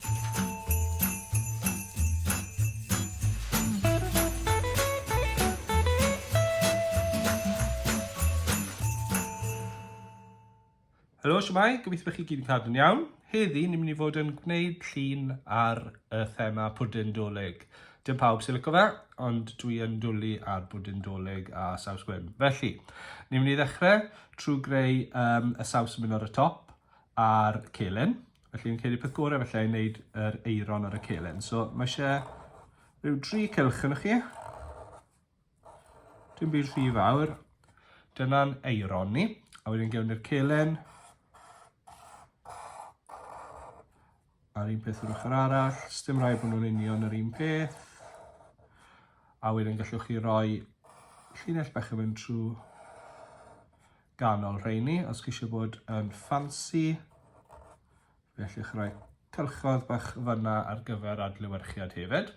Helo, siwmai, gobeithio bod chi gyd yn cadw'n iawn. Heddi, ni'n mynd i fod yn gwneud llun ar y thema pwdyn dolyg. Dim pawb sy'n lyco fe, ond dwi yn dwlu ar bwdyn dolyg a saws gwyn. Felly, ni'n mynd i ddechrau trwy greu um, y saws yn mynd ar y top a'r celyn. Felly fi'n credu peth gorau felly i wneud yr eiron ar y celyn. So mae eisiau rhyw dri cylch yn chi. Dim byd rhy fawr. Dyna'n eiron ni. A wedyn gewn ni'r celyn. A'r un peth o'r ochr arall. Sdim rhaid bod nhw'n union yr un peth. A wedyn gallwch chi roi llinell bach yn mynd trwy ganol rheini, os chi eisiau bod yn ffansi, fe allwch roi cylchoedd bach fyna ar gyfer adlewyrchiad hefyd.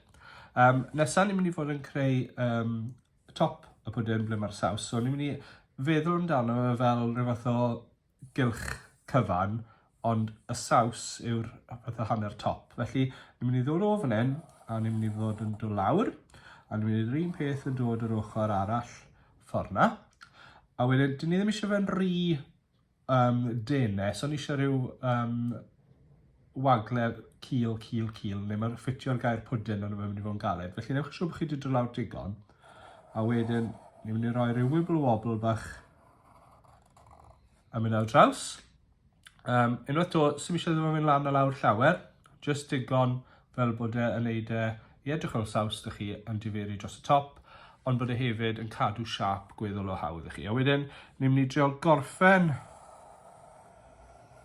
Um, nesaf ni'n mynd i fod yn creu um, top y pwdin ble mae'r saws, so ni'n mynd i feddwl amdano fe fel rhywbeth o gylch cyfan, ond y saws yw'r pethau hanner top. Felly, ni'n mynd i ddod o fan hyn, a ni'n mynd i ddod yn dod lawr, a ni'n mynd i'r un peth yn dod yr ochr arall ffordd na. A wedyn, dyn ni ddim eisiau fe'n rhy um, denau, so ni eisiau rhyw um, wagle cil, cil, cil, neu mae'n ffitio'r gair pwdin ond mae'n mynd i fod yn galed. Felly newch yn siŵr bod chi wedi dod lawr digon. A wedyn, ni'n mynd i roi rhyw wibble wobble bach a mynd ar draws. Um, unwaith to, sy'n eisiau ddim yn mynd lan a lawr llawer, just digon fel bod e yn neud e i edrych fel saws dych chi yn diferi dros y top, ond bod e hefyd yn cadw siap gweddol o hawdd i chi. A wedyn, ni'n mynd i drio gorffen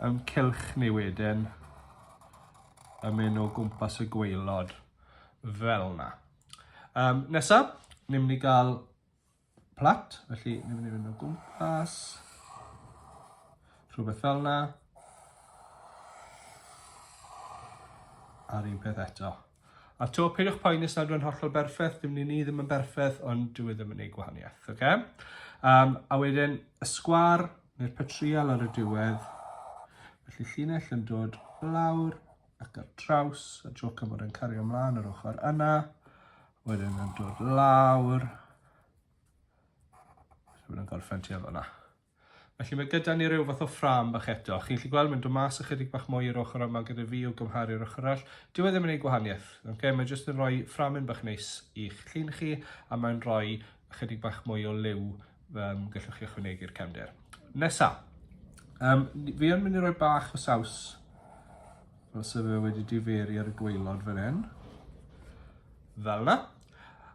yn cilch ni wedyn yn mynd o gwmpas y gweilod fel yna. Um, nesaf, ni'n mynd i gael plat, felly ni'n mynd i fynd o gwmpas, rhywbeth fel yna, a'r un peth eto. A to, peidiwch poeni os nad yw'n hollol berffaith, dim ni ddim yn berffaith, ond dwi e ddim yn ei gwahaniaeth, oce? Okay? Um, a wedyn, y sgwar, neu'r patrial ar y diwedd, felly llinell yn dod lawr, ac ar draws y tro cyfod yn cario ymlaen yr ochr yna, wedyn yn dod lawr, wedyn yn gorffen tu yna. Felly mae gyda ni rhyw fath o ffram bach eto. Chi'n gallu gweld mae'n dod mas ychydig bach mwy i'r ochr yma gyda fi o gymharu i'r ochr arall. Dyw e ddim yn ei gwahaniaeth. Okay? Mae jyst yn rhoi fframyn bach neis i'ch llun chi a mae'n rhoi ychydig bach mwy o liw um, gallwch chi ychwanegu'r cefndir. Nesa, um, fi yn mynd i roi bach o saws fel sef fe wedi diferi ar y gweilod fan hyn. Fel yna.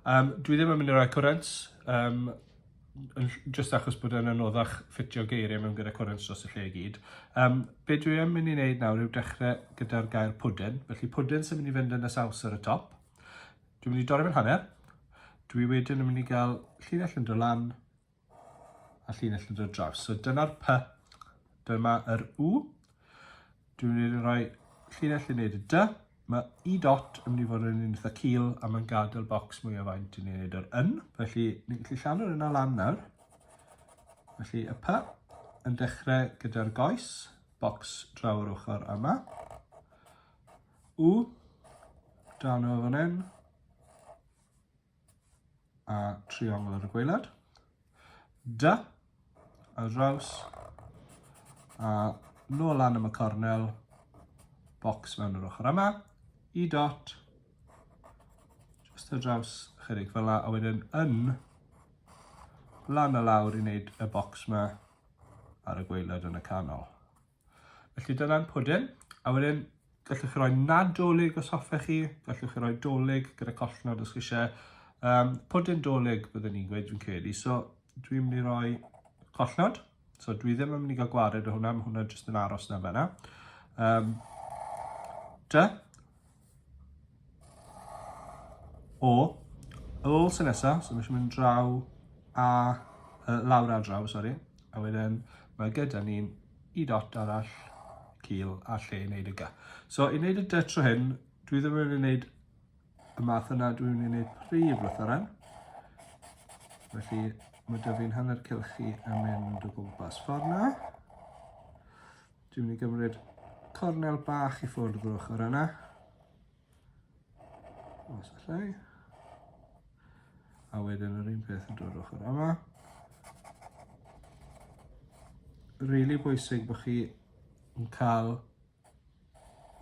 Um, dwi ddim yn mynd i roi cwrent, um, just achos bod yn anoddach ffitio geiriau mewn gyda cwrent dros y lle i gyd. Um, be dwi yn mynd i wneud nawr yw dechrau gyda'r gair pwdyn. Felly pwdyn sy'n mynd i fynd yn y saws ar y top. Dwi'n mynd i dorri fe'n hanner. Dwi wedyn yn mynd i gael llinell yn dod lan a llinell yn dod draws. So dyna'r P, dyma yr U. Dwi'n mynd i roi llinell yn neud y D. Mae E dot yn mynd i fod yn un eitha cil a mae'n gadael bocs mwy o faint i ni wneud yr yn. Felly, ni'n gallu llanw'r yna lan nawr. Felly, y P yn dechrau gyda'r goes, bocs draw yr ochr yma. U, dal nhw fan hyn, a triongl ar y gweilad. Da, a draws, a nôl lan am y cornel, bocs mewn yr ochr yma, i dot, just ar draws chydig fel la, a wedyn yn lan a lawr i wneud y bocs yma ar y gweilad yn y canol. Felly dyna'n pwdin, a wedyn gallwch chi roi nadolig os hoffech chi, gallwch chi roi dolig gyda collnod os chi eisiau. Um, pwdin dolig byddwn ni'n gweud fi'n credu, so dwi'n mynd i roi collnod, so dwi ddim yn mynd i gael gwared o hwnna, mae hwnna jyst yn aros na fe yna. Um, da, O, ar ôl sy'n nesaf, so mae eisiau mynd draw a uh, lawr a draw, sori. A wedyn mae gyda ni'n i dot arall, cil a lle i wneud y ga. So i wneud y dy tro hyn, dwi ddim yn wneud y math yna, dwi'n mynd i wneud prif lythyren. Felly mae dyfu'n hanner cilchi yn mynd o gwmpas ffordd yna. Dwi'n mynd i gymryd cornel bach i ffwrdd o'r ochr yna. Os allai. A wedyn yr un peth yn dod ochr yma. Rili really bwysig bod chi yn cael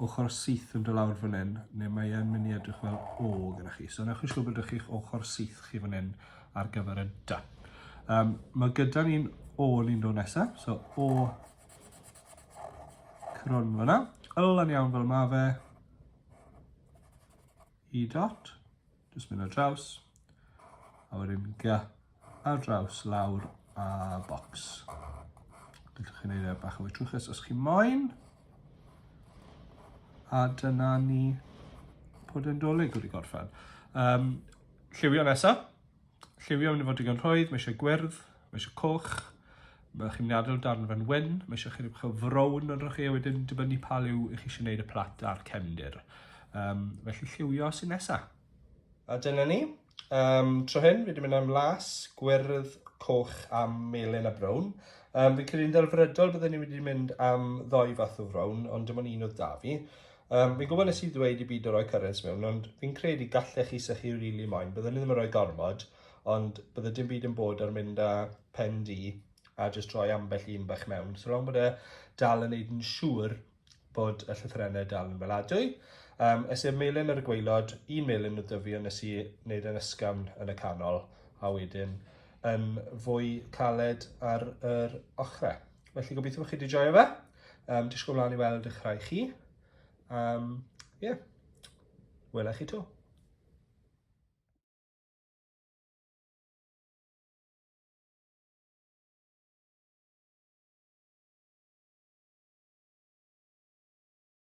ochr syth yn dy lawr fan hyn, neu mae e'n mynd i edrych fel O gyda chi. So newch chi siŵr bod ydych chi'ch ochr syth chi fan hyn ar gyfer y da. Um, mae gyda ni'n O ni'n dod nesaf, so O Crwn fyna. Ylan iawn fel mae fe. E dot. Just mynd ar draws. A wedyn ga ar draws lawr a box. Gallwch chi'n ei bach o fwy trwchus os chi'n moyn. A dyna ni bod yn dolyg wedi gorffen. Um, lliwio nesaf. Lliwio mynd i fod digon rhwydd, mae eisiau gwyrdd, mae eisiau coch, mae chi'n mynd i adael darn fan wyn, mae eisiau chi rhywbeth o frown yn rhywch chi, a wedyn dibynnu pa liw i chi eisiau gwneud y plat a'r cefndir. Um, felly lliwio sy'n nesaf. A dyna ni. Um, tro hyn, fi wedi mynd am las, gwyrdd, coch a melyn a brown. Um, fi'n credu'n ddelfrydol byddwn ni wedi mynd am ddoi fath o frown, ond dim ond un oedd da fi. Um, fi'n gwybod nes i ddweud i byd o roi currents mewn, ond fi'n credu gallech chi sy'ch chi rili really moyn. Byddwn ni ddim yn rhoi gormod, ond bydde dim byd yn bod ar mynd â pen di a jyst rhoi ambell un bach mewn. So rhawn bod e dal yn neud yn siŵr bod y llythyrennau dal yn fel adwy. Um, es i'r melin ar y gweilod, un melin o dyfu ond nes i wneud yn ysgafn yn y canol, a wedyn yn fwy caled ar yr ochrau. Felly gobeithio bod chi wedi joio fe. Um, disgwyl mlaen i weld eich rhai chi. Um, yeah. Wela chi to.